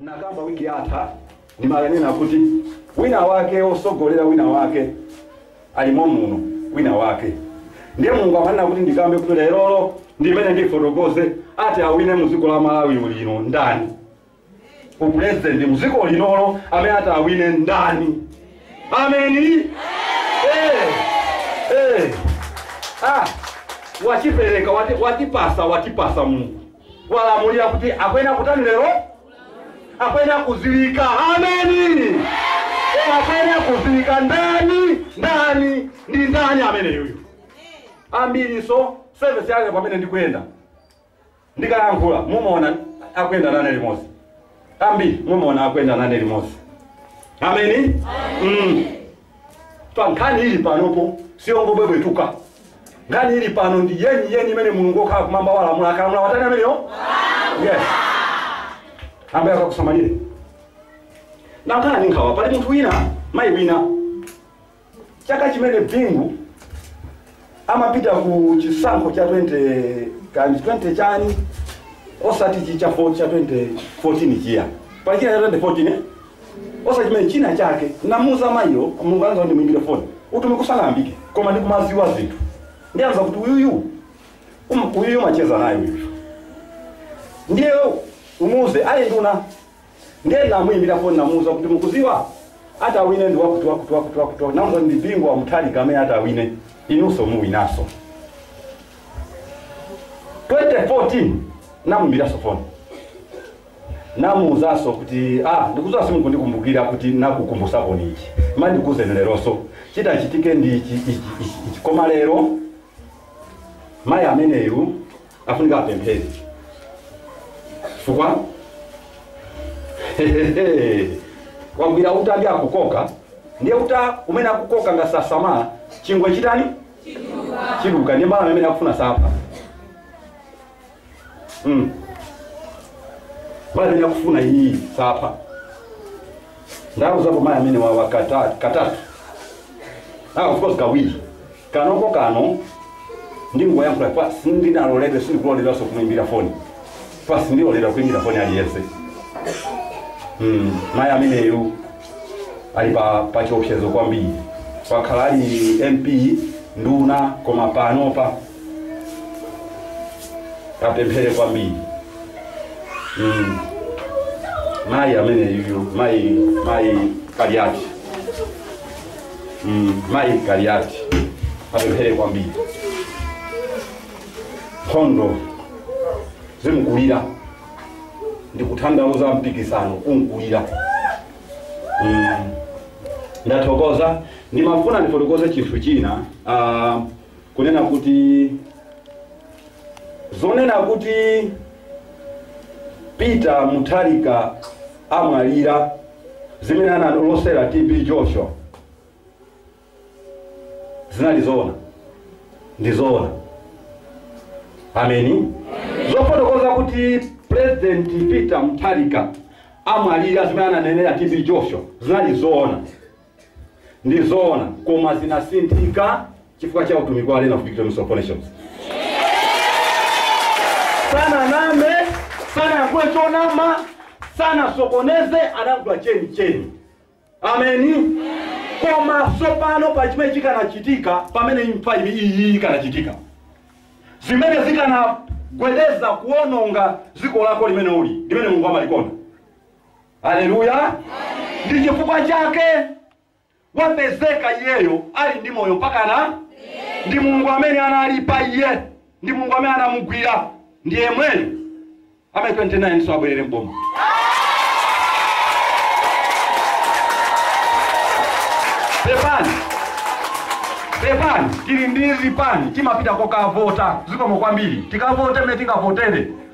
N'nakamba wiki yatha, nimakanena kuti wina wake wosogolela wina wake ali momuno, wina wake. Ndiye Mulungu amanena kuti ndikambe kuti lerolo ndimene ndifotokoze ati awine mu dziko la Malawi ulino ndani, u president mu dziko linolo amene ati awine ndani. Ameni. Eh. Eh. Ah. Wachipereka, wati, watipasa, watipasa Mulungu. walamulira kuti akuyenera kutani lero? Akuyenera kudziwika. Ameni. Koma akuyenera kudziwika ndani? Ndani? Ndi ndani ameneyuyu? Ambirinso sevisi yake pamene ndikuyenda ndikayankhula mumaona akuyenda nane limodzi ambiri mumaona akuyenda nane limodzi ameni mm. pa nkhani ili panopo siyongobwebwetuka nkhani ili pano ndi yeni yeni imene mulungu okhala kumwamba walamula akalamula watani ameneyo yes ambuye akakusamalire nakhala ndi nkhawa pali munthu wina mayi wina chaka chimene bingu amapita ku chisankho cha 20 kanji 20 chani osati chi cha 4 cha 2014 chija pali china cha 2014 eh? osati chimene china chake namuza mayiyo mulungu andiuza kuti muimbire foni utumiki usanayambike koma ndikumaziwa zinthu ndiye andiuza kuti uyuyu um- uyuyu umacheza naye uyu ndiye umuuze ali nduna ndiye ndinamuyimbira foni namuwuza kuti mukuziwa atawine ndi wakuti wakuti wakuti wakuti wakuti. namuwuza ndi bingu wa muthalika amene atawine inunso muwinaso 2014 namuyimbiranso foni namuwuzanso kuti ah ndikuziwa simukundikumbukira kuti nakukumbusaponi ichi ma ndikuuzeni leronso chitachitike ndi ichi ichi ichi ichi koma lero mayi ameneyu afunika apemphere chifukwa wagwira uta ndi akukoka ndiye uta umene akukoka ngati sasamala chingwe chitani chiduka ndiye mbalame imene akufuna sapha mm. mbalame imene akufuna iyi sapha ndawauzapo mayi amenewa katatu katatu ah, of course kawiri Kanoko kano ndingoyankhula pa sindinaloledwe sindikuloledwanso kumuimbira foni pa sindiloledwa kuimbira foni aliyense mm. mayi ameneyu ali pa, pa chiopsezo kwambiri wakhala ali mp nduna koma panopa apemphere kwambiri mm. mayi ameneyu mayi mayi kaliati Mm, mayi Kaliati apemphere kwambiri nkhondo yimkulira ndikutanthauza mpikisano umkulira mm. ndathokoza ndimafuna ndifotokoze chinthu china uh, kunena kuti zonena kuti Peter Mutharika amwalira, zimene analosera TB Joshua zinali zoona? Ndi zoona. Ameni. Zofotokoza kuti President Peter Mutharika amwalira, zimene ananenera TB Joshua zinali zoona. ndi zoona koma zinasinthika chifukwa cha utumiki wa Arena of Victory of Nations sananame sanayankhule chonama sanasokoneze anayankhula cheni cheni ameni koma sopano pa chimene chikanachitika pamene imfa ili iyi ikanachitika zimene zikanakweza kuononga dziko lako limene uli limene mulungu amalikonda Aleluya! Ndi chifukwa chake wapezeka iyeyo ali ndi moyo mpaka pano ndi Mulungu amene anali pa iye, ndi Mulungu amene anamugwira, ndi yemweyo amene 29 so abwerere m'boma. Pepani, pepani, tili ndi zipani timapita kokavota zikomo kwambiri, tikavote mmene tingavotere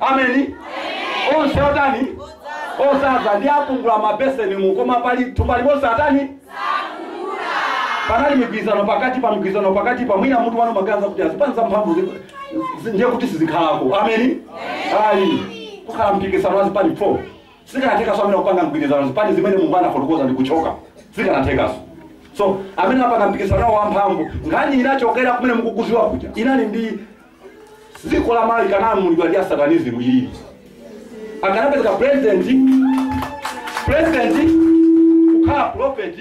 ameni onse otani osaza ndi apungula mabeseni mu koma pali thumba limozi atani panali mgwirizano pakati pa mgwirizano pakati pa mwina mutu mwanu mumaganiza kuti azipani za mphamvu zi- zi- ndiye kuti sizikhalako ameni ayi kukhala mpikisano wa zipani 4 sikanathekaso amene kupanga mgwirizano zipani zimene mulungu anafotokoza ndi kuchoka sikanathekaso so amene apanga mpikisano wawo wamphamvu nkhani inachokera kumene mukukuziwa kuja inali ndi dziko la Malawi likanalamulidwa ndi asatanizimu ili akanapezeka president president kukhala prophet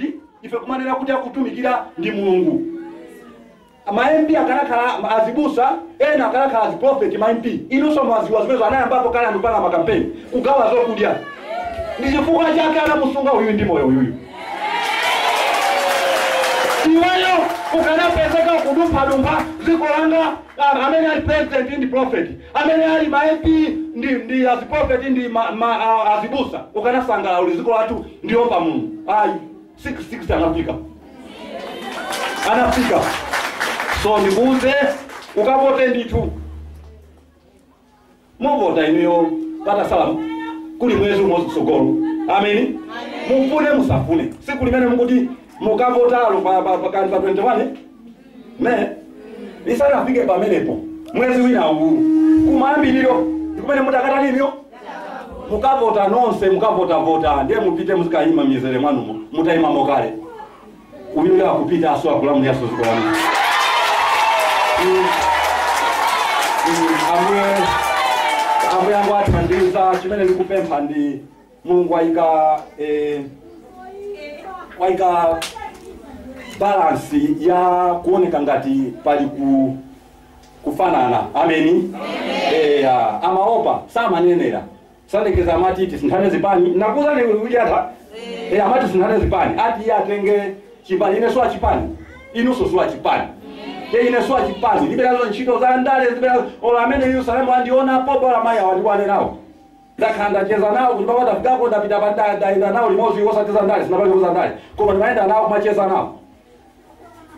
ife kumanena kuti akutumikira ndi mulungu maempi akanakhala azibusa ena akanakhala aziprofeti maempi inunso mwaziwa zimenezo anayambapo kale azipanga makampeni kugawa zokudya ndi chifukwa chake anamusunga uyu ndi moyo uyuyu iweyo ukanapezeka kudumphadumpha dziko langa ah, amene ali president ndi prophet amene ali ma mp ndi, ndi aziprophet ndi ma, ma, ah, azibusa ukanasangalala uli dziko lathu ndi loopa mulungu ayi 666 anafika anafika so ndikuuze ukavote ndithu muvota inuyo patasala kuli mwezi umodzi kutsogolo ameni mufune musafune tsiku limene mukuti mukavotalo pa pa- pa- pa 21 me lisanafike pamenepo mwezi wina uwu kumayambiriro ndikumene mudzakatani inuyo mukavota nonse mukavotavota ndiye mupite muzikayima mizere mwanumo mutayimamo kale Uyuyo akupitanso akulamuliranso dziko lanu. Ambuye ambuye angu athandiza chimene ndikupempha ndi Mulungu waika eh, waika balance ya kuoneka ngati pali ku kufanana ameni eya amaopa samanenera Salekeza amati tisinthane zipani ndakuuzani ni ujata eh, amati tisinthane zipani ati iye atenge chipani ine si wa chipani inunso si wa chipani ye ine si wa chipani ndilibe nazo ntchito za ndale ndilibe nazo olo a mu Yerusalemu andiona pompo amayi awa ndionane nawo ndakhala ndacheza nawo kuti papa tafikako ndapita pandale ndayenda nawo limodzi osacheza ndale sinakacheza ndale koma ndimayenda nawo kumacheza nawo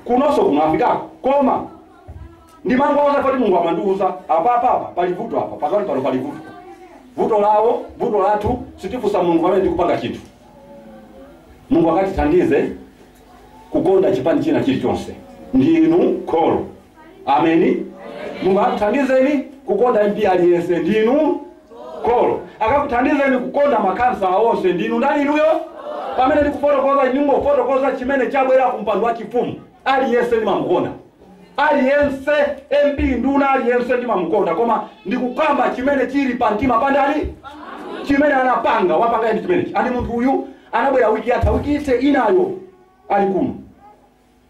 kunonso kuno anafikako koma ndimangoona kuti mulungu amandiuza apa apa apa pali vuto apa pakati pano pali vuto vuto lawo vuto lathu sitifunsa mulungu pamene tikupanga chinthu mulungu akatithandize kukonda chipani china chilichonse ndinu kholo ameni mulungu akuthandizeni kukonda mp aliyense ndinu kholo akakuthandizeni kukonda makhansala onse ndinu ndani inuyo pamene ndikufotokoza ndingofotokoza chimene chabwera ku mpando wa chifumu aliyense ndimamukonda aliyense mp nduna aliyense ndimamukonda koma ndikukamba chimene chili pa mtima pa ndani chimene anapanga wapanga ndi chimenechi and munthu uyu anabwera wiki yatha wiki ise inayo ali kuno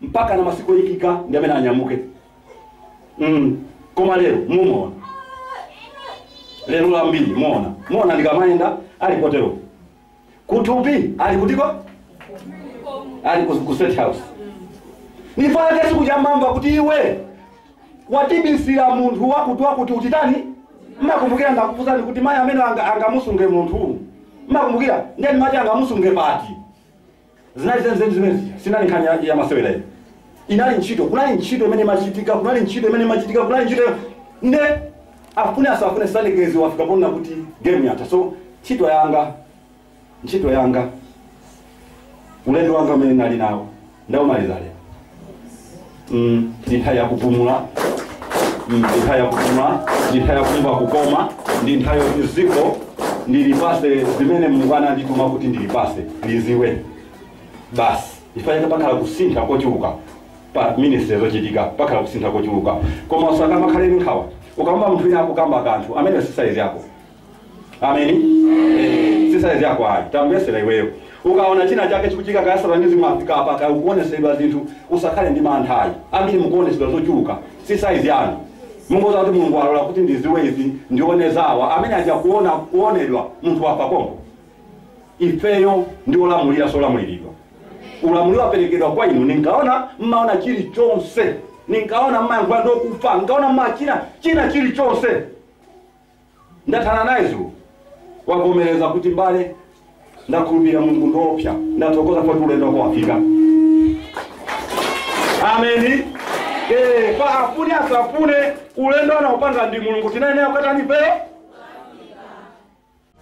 mpaka na masiku oyikika ndi amene anyamuke mm. koma lero muona lero ambiri muona muona ndikamayenda ali potero kaya ali kutiko ali ku, ku state house nchifukwa chake tsiku lija mmamva kuti iwe watibisira munthu wakuti wakuti utitani mmakumbukira ndakufunsani kuti mayi amene anga- angamusunge munthu mmakumbukira nde nimati angamusunge pati Zinali zenizeni zimenezi. Sinali nkhani ya, ya masewera iyo. Inali ntchito, kunali ntchito imene imachitika, kunali ntchito imene imachitika, kunali ntchito nde afune asafune Salekeza wafika poona kuti game yatha. So ntchito yanga, ntchito yanga, ulendo wanga umene ndinali nawo ndaumaliza lero. mm, ndi nthawi yakupumula mm, ndi nthawi yakupumula ndi nthawi yakumva kukoma ndi nthawi yoti dziko ndilipase zimene mulungu anandituma kuti ndilipase liziwe basi ifunika pakhala kusintha kochuluka pa ministry zochitika pakhala kusintha kochuluka koma usakamakhale ndi nkhawa ukamva munthu wina akukamba kanthu amene si size yako ameni Eh, si saizi yako ayi tamvesera iweyo ukaona chinachake chikuchitika kaya satanizimu yafika apa kaya ukuonetsedwa zinthu usakhale ndi mantha ayi ambiri mukuonetsedwa zochuluka si saizi yanu mungodziwa kuti mulungu alola kuti ndiziwe izi ndione zawa amene aja kuona kuonedwa munthu wafa konko ifeyo ndi olamulira si olamuliridwa ulamuliro waperekedwa kwa inu ninkaona mmaona chilichonse ninkaona mmayankhula ndokufa nkaona mmachina china chilichonse Ndathana naye dzulo. Wavomereza kuti mbale, ndakhulupirira Mulungu ngoopsa. Ndathokoza kuti ulendo wako wafika. Ameni. Eh, kaya afune asafune ulendo anaupanga ndi Mulungu tinayenera kukatani peo.